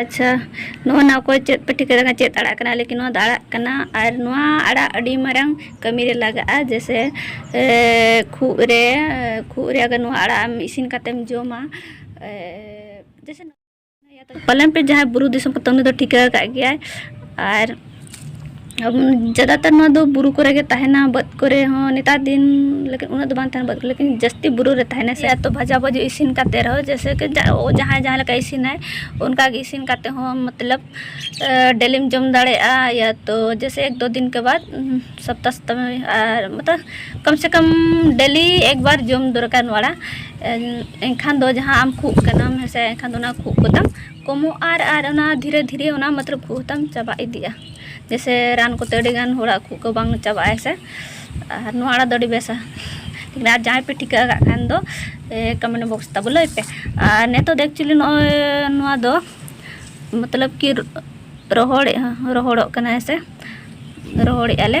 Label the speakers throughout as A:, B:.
A: ᱟᱪᱪᱷᱟ ᱱᱚᱜᱼᱚ ᱱᱟ ᱚᱠᱚᱭ ᱪᱮᱫ ᱯᱮ ᱴᱷᱤᱠᱟᱹ ᱠᱟᱱᱟ ᱪᱮᱫ ᱟᱲᱟᱜ ᱠᱟᱱᱟ ᱞᱮᱠᱤᱱ ᱱᱚᱣᱟ ᱫᱚ ᱟᱲᱟᱜ ᱠᱟᱱᱟ ᱟᱨ ᱱᱚᱣᱟ ᱟᱲᱟᱜ ᱟᱹᱰᱤ ᱢᱟᱨᱟᱝ ᱠᱟᱹᱢᱤ ᱨᱮ ᱞᱟᱜᱟᱜᱼᱟ ᱡᱮᱥᱮ ᱠᱷᱩᱜ ᱨᱮ ᱠᱷᱩᱜ ᱨᱮ ᱟᱜᱟᱨ ᱱᱚᱣᱟ ᱟᱲᱟᱜ ᱮᱢ ᱤᱥᱤᱱ ᱠᱟᱛᱮᱢ ᱡᱚᱢᱟ ᱡᱮᱥᱮ ᱯᱟᱞᱮᱱ ᱯᱮ ᱡᱟᱦᱟᱸᱭ ᱵᱩᱨᱩ ᱫᱤᱥᱚᱢ ᱯᱮ ᱩᱱᱤ ᱫᱚ ᱴᱷᱤᱠᱟᱹ ᱟᱠᱟᱫ ᱜᱮᱭᱟᱭ ᱟᱨ ᱡᱟᱫᱟᱛᱟᱨ ᱱᱚᱣᱟ ᱫᱚ ᱵᱩᱨᱩ ᱠᱚᱨᱮ ᱜᱮ ᱛᱟᱦᱮᱱᱟ ᱵᱟᱹᱫᱽ ᱠᱚᱨᱮ ᱦᱚᱸ ᱱᱮᱛᱟᱨ ᱫᱤᱱ ᱞᱮᱠᱤᱱ ᱩᱱᱟᱹᱜ ᱫᱚ ᱵᱟᱝ ᱛᱟᱦᱮᱱᱟ ᱵᱟᱹᱫᱽ ᱠᱚᱨᱮ ᱞᱮᱠᱤᱱ ᱡᱟᱹᱥᱛᱤ ᱵᱩᱨᱩ ᱨᱮ ᱛᱟᱦᱮᱱᱟ ᱥᱮ ᱛᱚ ᱵᱷᱟᱡᱟ ᱵᱷᱟᱹᱡᱤ ᱤᱥᱤᱱ ᱠᱟᱛᱮ ᱨᱮᱦᱚᱸ ᱡᱮᱭᱥᱮ ᱠᱤ ᱡᱟᱦᱟᱸᱭ ᱡᱟᱦᱟᱸ ᱞᱮᱠᱟᱭ ᱤᱥᱤᱱᱟᱭ ᱚᱱᱠᱟ ᱜᱮ ᱤᱥᱤᱱ ᱠᱟᱛᱮ ᱦᱚᱸ ᱢᱚᱛᱞᱚᱵ ᱰᱮᱞᱤᱢ ᱡᱚᱢ ᱫᱟᱲᱮᱭᱟᱜᱼᱟ ᱭᱟ ᱛᱚ ᱡᱮᱭᱥᱮ ᱮᱠ ᱫᱳ ᱫᱤᱱ ᱠᱮ ᱵᱟᱫᱽ ᱥᱚᱯᱛᱟ ᱥᱚᱯᱛᱟ ᱢᱮ ᱟᱨ ᱢᱚᱛᱞᱚᱵ ᱠᱚᱢ ᱥᱮ ᱠᱚᱢ ᱰᱮᱞᱤ ᱮᱠ ᱵᱟᱨ ᱡᱚᱢ ᱫᱚᱨᱠᱟᱨ ᱱᱚᱣᱟ ᱮᱱᱠᱷᱟᱱ ᱫᱚ ᱡᱟᱦᱟᱸ ᱟᱢ ᱠᱷᱩᱜ ᱠᱟᱱᱟᱢ ᱦᱮᱸᱥᱮ ᱮᱱᱠᱷᱟᱱ ᱫᱚ ᱚᱱᱟ ᱠᱷᱩᱜ ᱠᱚᱛᱟᱢ ᱠᱚᱢᱚᱜ ᱟᱨ ᱟᱨ ᱚᱱᱟ ᱫᱷᱤᱨᱮ ᱫᱷᱤᱨᱮ ᱚᱱᱟ ᱢᱚᱛᱞᱚᱵ ᱠᱷᱩᱜ ᱦᱚᱸᱛᱟᱢ ᱪᱟᱵᱟ ᱤᱫᱤᱜᱼᱟ ᱡᱮᱥᱮ ᱨᱟᱱ ᱠᱚᱛᱮ ᱟᱹᱰᱤ ᱜᱟᱱ ᱦᱚᱲᱟᱜ ᱠᱷᱩᱜ ᱠᱚ ᱵᱟᱝ ᱪᱟᱵᱟᱜᱼᱟ ᱥᱮ ᱟᱨ ᱱᱚᱣᱟ ᱟᱲᱟᱜ ᱫᱚ ᱟᱹᱰᱤ ᱵᱮᱥᱟ ᱟᱨ ᱡᱟᱦᱟᱸᱭ ᱯᱮ ᱴᱷᱤᱠᱟᱹ ᱟᱠᱟᱫ ᱠᱷᱟᱱ ᱫᱚ ᱠᱚᱢᱮᱱᱴ ᱵᱚᱠᱥ ᱛᱟᱵᱚ ᱞᱟᱹᱭ ᱯᱮ ᱟᱨ ᱱᱤᱛᱚᱜ ᱫᱚ ᱮᱠᱪᱩᱭᱮᱞᱤ ᱱᱚᱜᱼᱚᱭ ᱱᱚᱣᱟ ᱫᱚ ᱢᱚᱛᱞᱚᱵ ᱠᱤ ᱨᱚᱦᱚᱲᱮᱜᱼᱟ ᱨᱚᱦᱚᱲᱚᱜ ᱠᱟᱱᱟ ᱦᱮᱸ ᱥᱮ ᱨᱚᱦᱚᱲᱮᱜᱼᱟ ᱞᱮ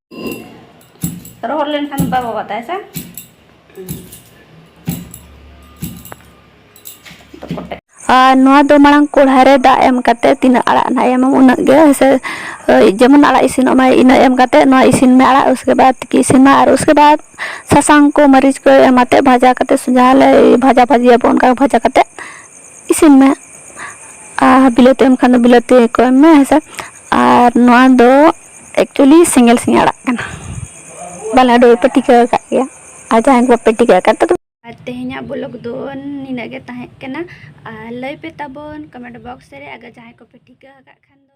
A: ᱨᱚᱦᱚᱲ ᱞᱮᱱᱠᱷᱟᱱ ᱵᱟᱭ ᱵᱟᱵᱟᱫ ᱛᱟᱭ ᱥᱮ ᱟᱨ ᱱᱚᱣᱟ ᱫᱚ ᱢᱟᱲᱟᱝ ᱠᱚᱲᱦᱟ ᱨᱮ ᱫᱟᱜ ᱮᱢ ᱠᱟᱛᱮ ᱛᱤᱱᱟᱹᱜ ᱟᱲᱟᱜ ᱱᱟᱜ ᱮᱢ ᱩᱱᱟᱹᱜ ᱜᱮ ᱦᱮᱸᱥᱮ ᱡᱮᱢᱚᱱ ᱟᱲᱟᱜ ᱤᱥᱤᱱᱚᱜ ᱢᱟ ᱤᱱᱟᱹ ᱮᱢ ᱠᱟᱛᱮ ᱱᱚᱣᱟ ᱤᱥᱤᱱ ᱢᱮ ᱟᱲᱟᱜ ᱩᱥᱠᱮ ᱵᱟᱫ ᱛᱤᱠᱤ ᱤᱥᱤᱱ ᱢᱟ ᱟᱨ ᱩᱥᱠᱮ ᱵᱟᱫ ᱥᱟᱥᱟᱝ ᱠᱚ ᱢᱟᱹᱨᱤᱪ ᱠᱚ ᱮᱢ ᱟᱛᱮ ᱵᱷᱟᱡᱟ ᱠᱟᱛᱮ ᱡᱟᱦᱟᱸ ᱞᱮ ᱵᱷᱟᱡᱟ ᱵᱷᱟᱹᱡᱤᱭᱟᱵᱚ ᱚᱱᱠᱟ ᱵᱷᱟᱡᱟ ᱠᱟᱛᱮ ᱤᱥᱤᱱ ᱢᱮ ᱟᱨ ᱵᱤᱞᱟᱹᱛᱤ ᱮᱢ ᱠᱷᱟᱱ ᱫᱚ ᱵᱤᱞᱟᱹᱛᱤ ᱠᱚ ᱮᱢ ᱢᱮ ᱦᱮᱸᱥᱮ ᱟᱨ ᱱᱚᱣᱟ ᱫᱚ ᱮᱠᱪᱩᱭᱮᱞᱤ ᱥᱤᱝᱜᱮᱞ ᱥᱤᱧ ᱟᱲᱟᱜ ᱠᱟᱱᱟ ᱵᱟᱞᱮ ᱟᱹᱰᱤ ᱯᱮ ᱴᱤᱠᱟᱹ ᱟᱠᱟᱫ ᱜᱮᱭᱟ ᱟᱨ ᱡᱟᱦᱟᱸᱭ ᱠᱚ ᱵᱟᱯᱮ ᱴᱤᱠᱟᱹ ᱟᱠᱟᱫ ᱛᱟᱫᱚ ᱟᱨ ᱛᱮᱦᱮᱧᱟᱜ ᱵᱞᱚᱜ ᱫᱚ ᱱᱤᱱᱟᱹᱜ ᱜᱮ ᱛᱟᱦᱮᱸ ᱠᱟᱱᱟ ᱟᱨ ᱞᱟᱹᱭ ᱯᱮ ᱛᱟᱵᱚᱱ ᱠᱚᱢᱮᱱᱴ ᱵᱚᱠᱥ ᱨᱮ ᱟᱜᱟᱨ ᱡᱟᱦᱟᱸᱭ ᱠᱚᱯᱮ ᱴᱷᱤᱠᱟᱹ ᱟᱠᱟᱫ ᱠᱷᱟᱱ ᱫᱚ